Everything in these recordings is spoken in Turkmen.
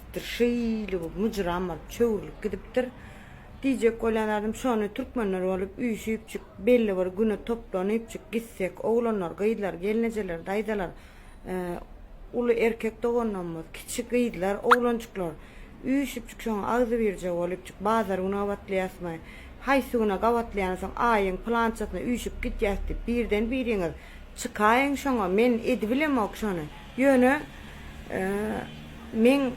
gidipdir, şeýle bu myjram bolup çöwrülip gidipdir. Diýjek bolýan zadym şony türkmenler bolup üýşüpjik belli bir güne toplanypjyk gitsek oglanlar, gyzlar, gelnejeler, daýzalar, uly erkek doganlarymyz, kiçi gyzlar, oglanjyklar üýşüpjik şoňa agzybirje bolupjyk bazar güni gabatlaýasmy, haýsy güne gabatlaýany soň aýyň pylançasyna üýşüp gidýäs diýip birden biriňiz Çykaýyň şoňa, men edibilemok şony. Ýöne, meň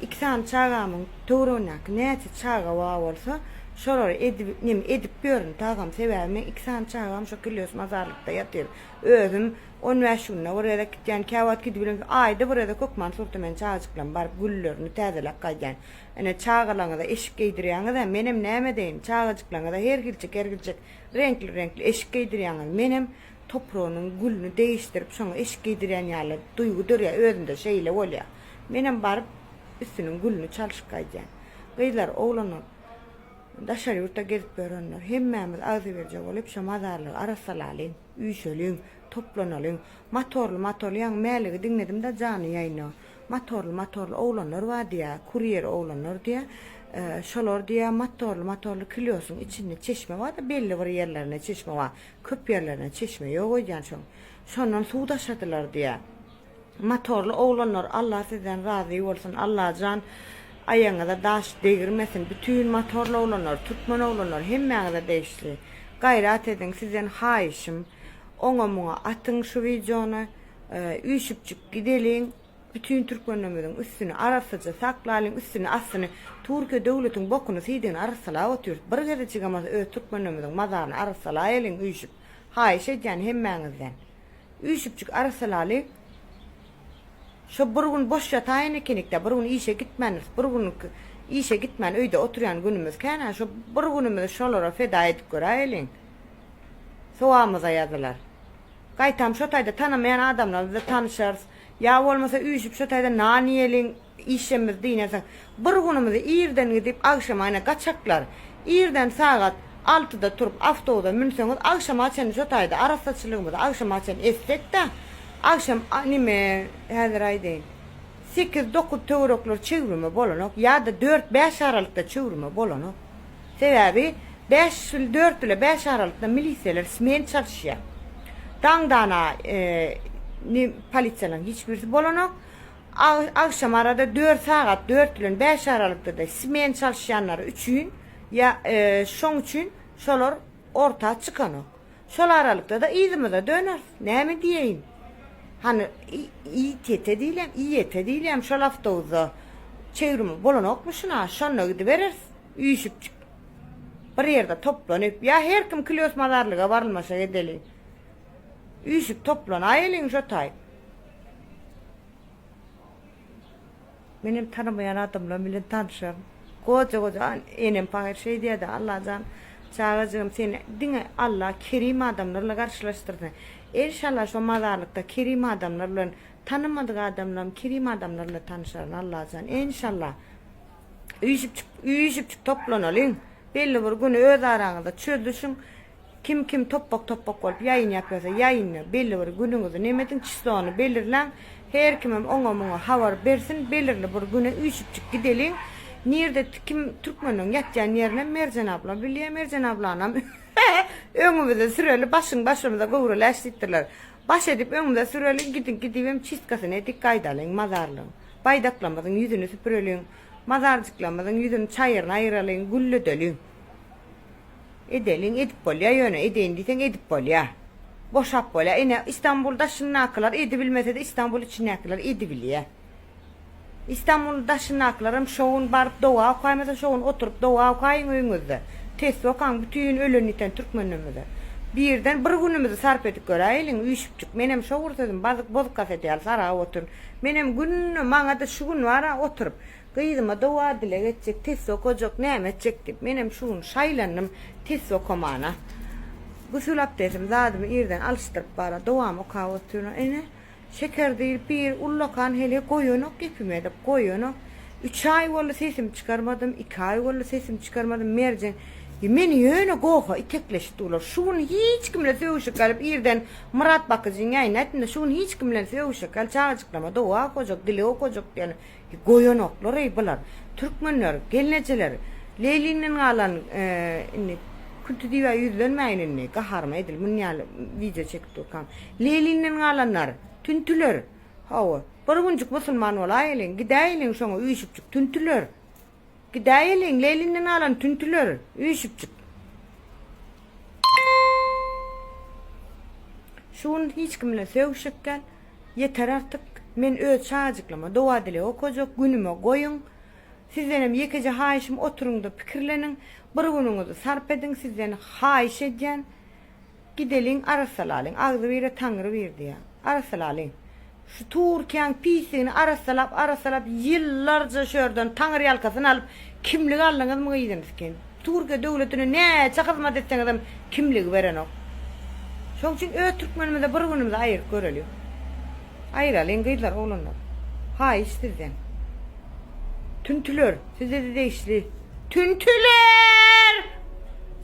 iki sany çagamyň töweregindäki näçe çaga bar bolsa, şolary edip, neme, edip ýörün, tagam. Sebäbi meň iki sany çagam şo Killios mazarlykda ýatyr. Özüm on bäş günde bir gezek gidýän, käwagt gidibilmän, aýda bir gezek hökman Surtumen çagajyklam baryp, güllerini täzeläp gaýdýan. Ine, çagalaňyza eşik geýdirýäňiz-ä, menem näme edeýin, çagajyklaňyza her hilçik, her hilçik Reňkli reňkli eşik geýdirýäňiz menem topragynyň gülüni degişdirip şoňa eşik geýdirýän ýaly duýgy dörýär özümde şeýle bolýa menem baryp üstüniň gülüni çalşyp gaýdýan gyzlar oglanlar daşary ýurtda gezip ýörenler hemmämiz agzybirje bolup şo mazarlygy arassalalyň üýşeliň toplanalyň matorly matolýaň mäligi diňledimda jany ýaýno. Matorly matorly oglanlar bar diýä kurýer oglanlar diýä şolar diýä matorly matorly kilýosyň içinde çeşme barda belli bir ýerlerinde çeşme bar köp ýerlerinde çeşme ýok öýdýän şoň şondan suw daşadylar diýä matorly oglanlar Allah sizden razy bolsun Allajan aýagyňyza daş degirmesin bütün matorly oglanlar türkmen oglanlar hemmäňize degişli gaýrat ediň sizden haýyşym oňa muňa atyň şu wideony. Üýşüpjik gideliň bütin türkmenlerimiziň üstüni arassaja saklalyň üstüni astyny turkiýe döwletiň bokuny siýdigini arassalap otyrys bir gezejigem bolsa öz türkmenlerimiziň mazaryny arassalaýalyň üýşüp haýyş edýän hemmäňizden üýşüpjik arassalalyň şo bir gün boş ýataýyn ekenikdä bir gün işe gitmändiris bir gün işe gitmän öýde oturýan günümiz känä şo bir günümizi şolara feda edip göräýeliň sowabymyza ýazylar. Gaýtam şo taýda tanamaýan adamlar bize tanyşarys. Ýa bolmasa üýşüp şo taýda nan iýeliň, işemmiz diýnesoň. Bir günümizi irden gidip agşamaýna gaçaklar. Irden sagat altyda turup awtobusa münseňiz agşama çenli şo taýda arassaçylygymyzy agşama çenli etsekdä agşam nime häzir aýdaýyn sekiz dokuz töwerekleri çüwrüme bolanok ýa-da dört bäş aralykda çüwrüme bolanok. Sebäbi bäş bil dört bile bäş aralykda milisiýalar smen çalyşýar. Daňdana ni polisiýalaryň hiç birisi bolanok. Agşam arada dört sagat dört bilen bäş aralykda-da smen çalyşýanlary üçin ýa şoň üçin şolar orta çykanok. Şol aralykda-da yzymyza döneris. Näme diýeýin? Hany, ýitýete diýilýämi, iýete diýilýämi, şol awtobusda çevrimiz bolanokmy şuna? Şonda gidibereris, üýşüpjik. Bir ýerde toplanyp, ýa her kim Klýos mazarlyga barylmaşa gedeli. Üýşüp toplanaýeliň şo taýy. Menem tanamaýan adamlar bilen tanşaryn. Goja goja enem pahyr şeý diýýärdi, Allajan çagajygym seni diňe Alla kerim adamlar bilen garşylaşdyrsyn. Enşalla şo mazarlykda kerim adamlar bilen tanamadyk adamlarym kerim adamlar bilen tanşaryn Allajan enşalla. Üýşüpjik üýşüpjik toplanalyň belli bir gün öz araňyzda çözüşiň. Kim kim topbak topbak bolup ýaýyn ýapýasa ýaýyny belli bir günüňizi nemediň çislony belirläň her kimem oňa muňa habar bersin belirli bir güne üýşüpjik gideliň nirde kim türkmeniň ýatýan ýerine Merjen abla bilýä Merjen ablanam öňümize süreli başyň başymyza göwreläç diýipdirler baş edip öňümize süreli gidiň gidibem çistkasyny edik gaýdalyň mazarlyň baýdaklamyzyň ýüzüni süpüreliň mazarjyklamyzyň ýüzüni çaýyryny aýyralyň gülledeliň. Edeliň edip bolýa ýöne edeýin diýseň edip bolýa. Boşap bolýa ine Istanbul daşyndakylar edibilmesede Istanbul içindakiler edibilýa. Istanbul daşyndakilerem şogun baryp doga okaýmasa şogun oturyp doga okaýyň öýüňizde. Tesbi okaň bütin ölen ýiten türkmenlerimize. Birden bir günümizi sarp edip göräýeliň üýşüpjik menem şo bir sözüm bazyk bozkaset ýaly sargap otyryn. Menem günde maňada şu gün bara oturyp Gyzyma doga-dileg etjek, test okajak, näme etjek diýip, menem şu gün şaýlandym test okamana. Gusül-abdesimi, zadymy irden alyşdyryp bara, dogamy okap otyran. Ene, Şeker diýlip biri ullakan heleý goýanok gepime edip, goýanok. Üç aý boldy sesimi çykarmadym, iki aý boldy sesimi çykarmadym, merjen, meni ýöne goha itekleşip durlar. Şu gün hiç kim bilen sögüşek ýalyp irden Myrat bakyjynyň ýanyna ätdim-de, şu gün hiç kim bilen sögüşek ýaly çagajyklama doga okajak, dileg okajak diýýän. Goýanoklar eý bular Türkmenler gelnejeler Leýliňden galan indi Künti diýibä ýüzlenmäýin indi gaharyma edil muny ýaly wideo çekip durkam Leýliňden galanlar Tüntüler hawa bir günjük musulman bolaýeliň gidäýeliň şoňa üýşüpjik Tüntüler. Gidäýeliň, Leýlinden alan tüntüler, üýşüpjik. Şu gün hiç kim bilen sögüşjek däl. Ýeter artyk. Men öz çagajyklaryma doga-dileg okajak günüme goýuň. Sizdenem ýekeje haýyşym oturyňda pikirleniň. Bir günüňizi sarp ediň, sizden haýyş edýän. Gideliň arassalalyň agzybire taňry bir diýýän. Arassalalyň. Şu Turkiýaň pisligini arassalap arassalap ýyllarja şu ýerden taňyrýalkasyn alyp kimlik aldyňyzmy gyzym skin. Turkiýa döwletine näçe hyzmat etseňizem kimligi berenok. Şoň üçin öz türkmenimize bir günümizi aýyryp göreliň. Aýralyň gyzlar oglanlar haýyş sizden. Tüntüler sizede degişli tüntüler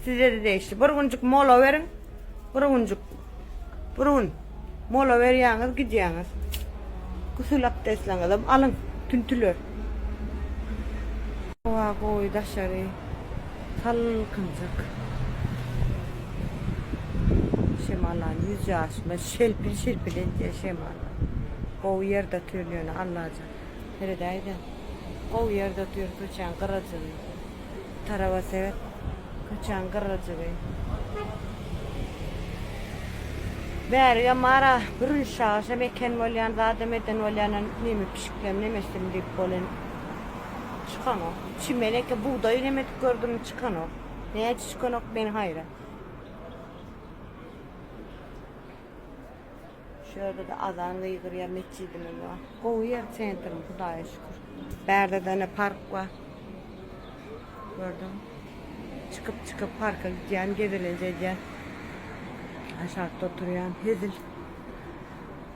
sizede degişli bir günjük mola beriň bir günjük bir gün mola berýäňiz gidýäňiz gusül abdesliňizem alyň tüntüler. Howa gowy daşary. Salkynjyk şemallany ýüz ýaşyma şelpil-şilpil edýä şemal. Gowy ýerde otyryn ýöne Allajan. Seredäýdä. Gowy ýerde otyryn köçäň gyrajygy. Taraba seret. Köçäň gyrajygy. Bärigem bar-a, bürünç çagyrşam eken bolýan, zadam eden bolýan, neme pişiklem, nemesim diýip bolýan. Çykanok. Çimen eke bugdaýy neme edip gördüm çykanok. Näçe çykanok men haýran. Şu ýerde-de azan gygyrýar metjidimiz bar. Gowy ýer sentrimiz Hudaýa şükür. Bärde-de ine park bar. Gördüňmi? Çykyp çykyp parka gidýän gezelenje edýän. Aşakda oturýan hezil.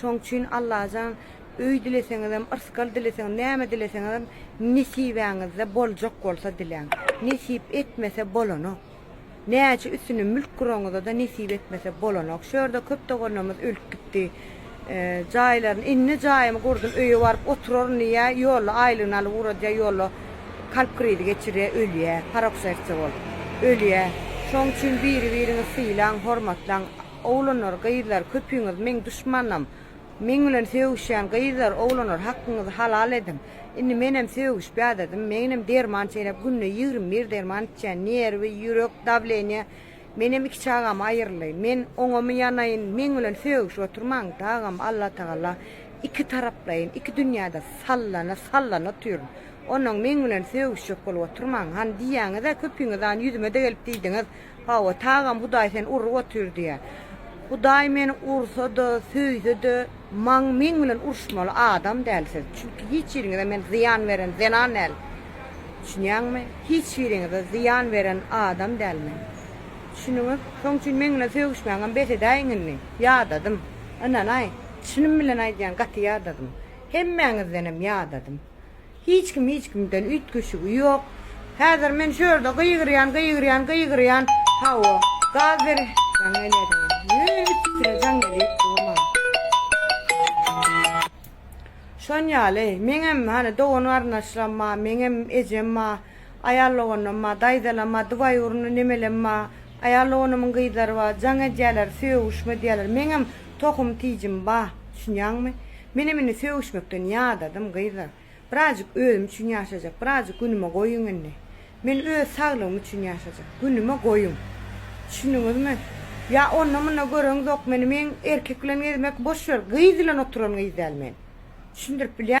Şoň üçin Allajan öý dileseňizem, yrsgal dileseňiz, näme dileseňizem nesibäňizde boljak bolsa diläň. Nesip etmese bolanok. Näçe üstüne mülk guraňyzada nesip etmese bolanok. Şu ýerde köp doganlarymyz ölüp gitdi. Jaýlaryny, indi jaýymy gurdum, öýe baryp oturaryn diýýär, ýolda aýlygyny alyp ugradýar, ýolda kalp krizi geçirýär, ölýär, paroksersçe bolup ölýär. Şoň üçin biri-biriňi sylaň, hormatlaň. Oglanlar, gyzlar, köpüňiz meň duşmanym. Meň bilen sögüşýän gyzlar, oglanlar, hakkyňyzy halal ediň. Indi menem sögüşip ýadadym. Menem derman çeýnäp, günde ýigrimi bir derman içýän. Nerwi, ýürek, dawleniýe. Menem iki çagam aýyrly. Men oňamy ýanaýyn? Meň bilen sögüşip oturmaň, dagam Allatagala iki taraplaýyn, iki dünýäde sallana, sallana otyryn. Onnoň meň bilen sögüşjek bolup oturmaň. Hany diýýäňiz-ä, köpüňiz hany ýüzüme-de gelip diýdiňiz. Hawa, tagam Hudaý seni urup otyr diýýär. Hudaý meni ursa-da, söýse-de, maň meň bilen uruşmaly adam däl siz. Çünki hiç biriňize men zyýan beren zenan däl. Düşünýäňmi? Hiç biriňize zyýan beren adam däl men. Düşündiňiz? Şoň üçin meň bilen sögüşmäňem bes edäýiň indi. Ýadadym. Ynanaý, çynym bilen aýdýan, gaty ýadadym. Hemmäňizdenem ýadadym. Hiç kim hiç kimden üýtgeşigi ýok. Häzir men şu ýerde gygyrýan, gygyrýan, gygyrýan. Hawa, gaz beriş jaň gelýär. Ýöne üstüne jaň gelip durman. Şon ýaly, meňem, hany, dogan-garyndaşlaram bar, meňem ejem bar, aýal doganlarym bar, daýzalaram bar, dubaý urunly nemelem bar. Aýal doganymyň gyzlary bar. Jaň edýärler, sögüşme edýärler. Meňem tohum-tijim bar. Düşünýäňmi? Menem indi sögüşmekden ýadadym, gyzlar. Birazjyk özüm üçin ýaşajak, birazjyk günüme goýuň indi. Men öz saglygym üçin ýaşajak. Günüme goýuň. Düşündiňizmi? Ýa onda-munda göreňzok meni, meň erkek bilen gezmek, boş wer, gyz bilen oturan gyz däl men. Düşündirip bilýä.